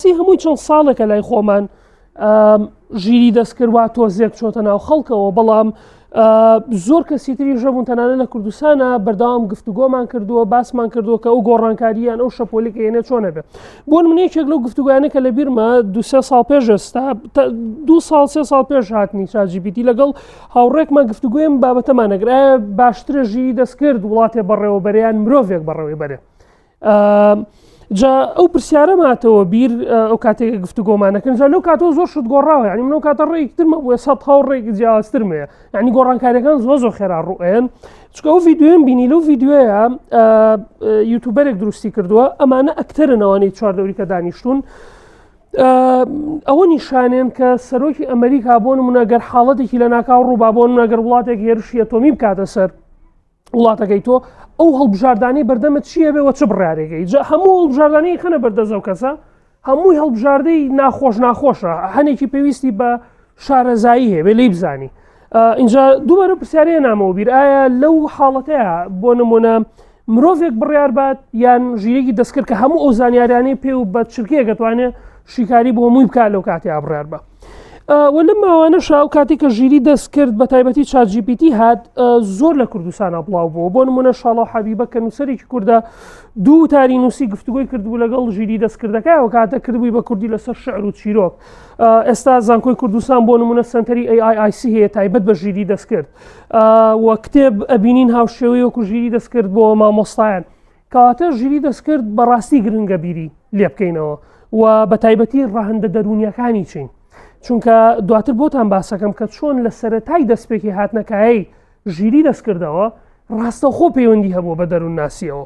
سی هەمووی چەند ساڵێکە لای خۆمان ژیری دەستکردوا تۆزێک چۆتە ناو خەڵکەوە بەڵام زۆر کەسی تری ژەبوون تەنانە لە کوردستانە بەرداوام گفتوگۆمان کردووە باسمان کردووە کە ئەو گۆڕانکاریان ئەو شەپۆلی کە هێنە چۆنە بێت بۆ منێکێک لەو گفتوگویانە کە لە بیرمە دوسێ ساڵ پێش ئێستا دو ساڵ سێ ساڵ پێش هاتنی چاجیبیتی لەگەڵ هاوڕێکمان گفتوگویم بابەتەمانەگرە باشترە ژیری دەستکرد وڵاتێ بەڕێوەبەریان مرۆڤێک بەڕەوەی بەرێ جا ئەو پرسیارە ماتەوە بیر ئەو کاتێک گفتو گۆمانەکەن جا لەو کاتەوە زۆر شت گۆڕاوە ینی منەوە کاتە ڕێکترمە بۆە سە هاو ڕێک جیاوازترمەیە ینی گۆڕانکاریەکان زۆ زۆ خێرا ڕوئێن چکە ئەو یددیوێن بینی لەو یددیوەیە یوتوبەرێک دروستی کردووە ئەمانە ئەکتەرنەوەی چوار دەوریکە دانیشتون. ئەوە نیشانێن کە سەرۆکی ئەمریکا بۆن منەگەر حاڵەتێکی لە ناکاو ڕووبابوون نەگەر وڵاتێک هێرشی ئەتۆمی بکاتە سەر وڵاتەکەی تۆ ئەو هەڵبژاردانەی بەردەمە چیە بێ وە چ بڕارێگەی جا هەموو هەڵبژاردانەی خەنە بەردەزەو کەسە هەمووی هەڵبژاردەی ناخۆش ناخۆشە هەنێکی پێویستی بە شارەزایی هەیە بێ لی بزانی اینجا دووبارە پرسیارەیە نامەوە بیر ئایا لەو حاڵەتەیە بۆ نمونە مرۆڤێک بڕیار بات یان ژیرێکی دەستکرد کە هەموو ئەو زانیاریانەی پێ و بە چرکەیە گەتوانێت شیکاری بۆ مووی بکات لەو کاتێ ئابڕار بە و لە ماوانەشا و کاتی کە ژیری دەست کرد بە تایبەتی چاجیپیتی هات زۆر لە کوردستانە بڵاو بوو بۆ نمونە شڵە حەبیبە کە نووسەرێکی کووردە دوو تاری نووسی گفتوگوی کردبوو لەگەڵ ژیری دەستکردەکە و کاتە کردبووی بە کوردی لەسەر شعر و چیرۆک ئێستا زانکۆی کوردستان بۆ نمونە سنتەری AIIC هەیە تایبەت بە ژیری دەستکرد و کتێب ئەبینین هاوشێوەی وەکو ژیری دەستکرد بۆ مامۆستایان کەواتە ژیری دەستکرد بەڕاستی گرنگە بیری لێبکەینەوە و بە تایبەتی ڕەهندە دەرونیەکانی چین چونکە دواتر بۆتان باسەکەم کە چۆن لە سەرەتای دەستپێکی هاتنەکایی ژیری دەستکردەوە ڕاستەخۆ پەیوەندی هەبوو بە دەروون ناسیەوە